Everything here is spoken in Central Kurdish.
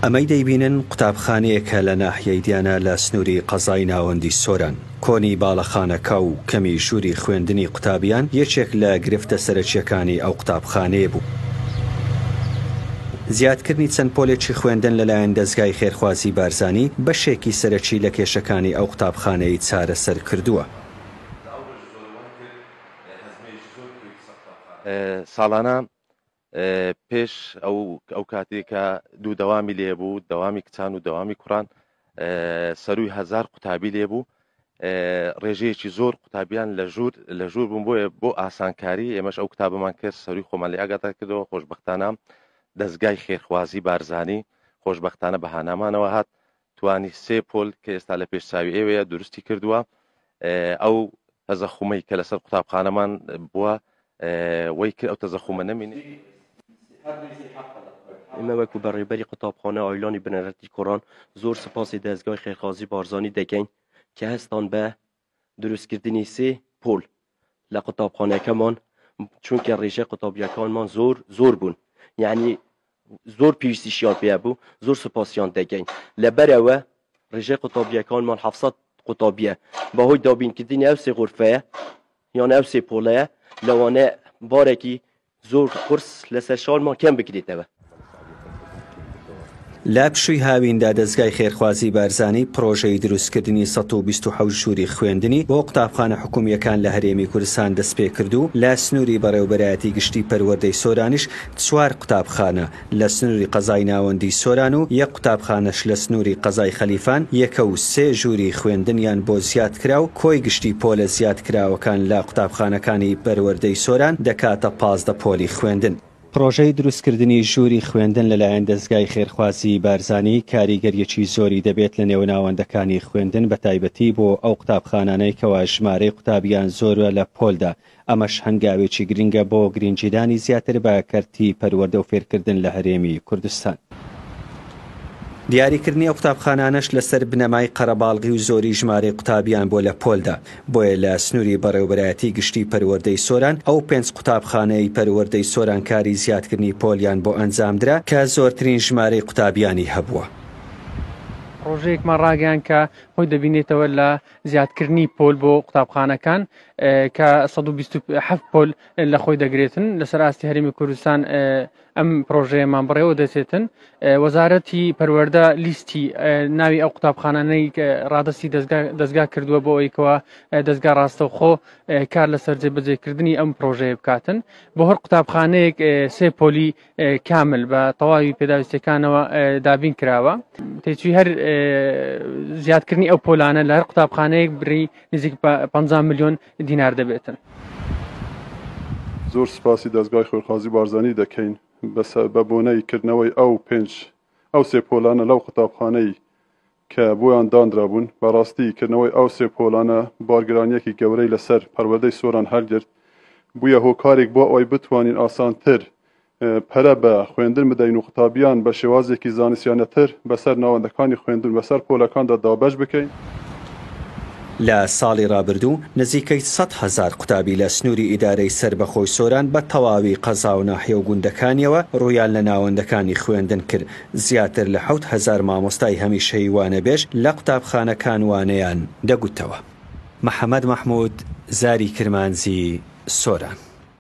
ئەمەی دەیبینن قوتابخانەیەکە لە ناحیەی دیانا لە سنووری قەزای ناوەندی سۆران. کۆنی باڵەخانەکە و کەمی ژووری خوێندنی قوتابیان یەکێک لە گرفتە سەرەکییەکانی ئەو قوتابخانەیە بوو. زیادکردنی چەند پۆلێکی خوێندن لەلایەن دەزگای خێرخوازی بارزانی بەشێکی سەرەکی لە کێشەکانی ئەو قوتابخانەی چارەسەر کردووە. ساڵانە پێش ئەو ئەو کاتێک کە دوو دەوامی لێ بوو دەوامی کچان و دەوامی کوڕان سەروی هزار قوتابی لێ بوو ڕێژەیەکی زۆر قوتابیان لە ژوور لە ژوور بوون بۆیە بۆ ئاسانکاری ئێمەش ئەو کتابمان کرد سەروی خۆمان لە ئاگاتا کردەوە خۆشببختانە دەستگای خێرخوازی بارزانانی خۆشببختانە بەهانامانەوە هات توانی سێ پۆل کە ئێستا لە پێش چاوی ئێوەیە دروستی کردووە ئەو تەزەخومەی کە لەسەر قوتابخانەمان بووە وەی کرد ئەو تەزەخومە نەمینێ. ئێمە وەکو بەڕێوبەری قوتابخانە ئایلۆنی بنەرەتی کوڕان زۆر سوپاسی دەزگای خێرخوازی بارزانی دەکەین کە هەستان بە دروستکردنی سێ پۆل لە قوتابخانەکەمان چونکە ڕێژەی قوتابیەکانمان زۆر زۆر بوون یعنی زۆر پێویستیشیان پێ بوو زۆر سوپاسیان دەگەین لەبەرەوە ڕێژەی قوتابیەکانمان حفسەت قوتابیە بەهۆی دابینکردنی ئەو سێ غرفەیە یان ئەو سێ پۆڵەیە لەوانەیە بارێکی زۆر قورس لەسەر شەوان ما کەم بکرێتەوە. لە پشووی هاویندا دەزگای خێرخوازی بارزانی پڕۆژەی دروستکردنی سەد و بیست و حەوت ژووری خوێندنی بۆ قوتابخانە حکوومییەکان لە هەرێمی کوردستان دەستپێکرد و لە سنووری بەڕێوەبەرایەتی گشتی پەروەردەی سۆرانیش چوار قوتابخانە لە سنوری قەزای ناوەندی سۆران و یەک قوتابخانەش لە سنوری قەزای خەلیفان یەکە و سێ ژووری خوێندنیان بۆ زیاد کرا و کۆی گشتی پۆلە زیاد کراوەکان لە قوتابخانەکانی پەروەردەی سۆران دەکاتە پازدە پۆلی خوێندن. پڕۆژەی دروستکردنی ژووری خوێندن لەلایەن دەزگای خێرخوازی بارزانی کاریگەریەکی زۆری دەبێت لە نێو ناوەندەکانی خوێندن بەتایبەتی بۆ ئەو قوتابخانانەی کەوا ژمارەی قوتابیان زۆرە لە پۆلدا ئەمەش هەنگاوێکی گرنگە بۆ گرنگیدانی زیاتر بە کەرتی پەروەردە و فێرکردن لە هەرێمی کوردستان. دیاریکردنی ئەو قوتابخانانەش لەسەر بنەمای قەرەباڵغی و زۆری ژمارەی قوتابیان بۆ لە پۆلدا، بۆیە لە سنوری بەڕێوبەرایەتی گشتی پەروەردەی سۆران ئەو پێنج قوتابخانەی پەروەردەی سۆران کاری زیادکردنی پۆلیان بۆ ئەنجامدرا کە زۆرترین ژمارەی قوتابیانی هەبووە. پڕۆژەیەکمان ڕاگەیاند کە خۆی دەبینێتەوە لە زیادکردنی پۆل بۆ قوتابخانەکان کە 1970 پۆل لە خۆی دەگرێتن لەسەر ئاستی هەرمی کوردستان ئەم پرۆژەیەمان بڕێوە دەچێتن وەزارەتی پەروەەردە لیستی ناوی ئەو قوتابخانانەی ڕادستی دەستگا کردووە بۆ ئەویکەوە دەستگا ڕاستەوخۆ کار لەسەر جێبەجێکردنی ئەم پرۆژەیە بکاتن بۆ هەر قوتابخانەیەک سێ پۆلی کامل بە تەواوی پێداویستەکانەوە دابین کراوە تێچوی هەر زیادکردنی ئەو پۆلانە لە هەر قوتابخانەیەک بری نزیک 500 میلیۆن دینار دەبێتن. زۆر سپاسی دەزگای خۆرخوازی بارزانی دەکەین بە بۆنەی کردنەوەی ئەو پێنج ئەو سێ پۆلانە لەو قوتابخانەی کە بۆیان دانرابوون، بەڕاستی کردنەوەی ئەو سێ پۆلانە بارگرانییەکی گەورەی لەسەر پەروەردەی سۆران هەلگرت، بوویە هۆکارێک بۆ ئەوەی بتوانین ئاسانتر پەرە بە خوێندن بدەین و قوتابییان بە شێوازێکی زانستیانەتر بەسەر ناوەندەکانی خوێندن بەسەر پۆلەکاندا دابەش بکەین. لە ساڵی ڕابردوو نزیکەی سەد هەزار قوتابی لە سنووری ئیدارەی سەربەخۆی سۆران بە تەواوی قەزا و ناحیە و گوندەکانییەوە ڕوویان لە ناوەندەکانی خوێندن کرد، زیاتر لە حەوت هەزار مامۆستای هەمیشەیی وانەبێژ لە قوتابخانەکان وانەیان دەگوتەوە. محەمەد مەحمود، زاری کرمانجی سۆران.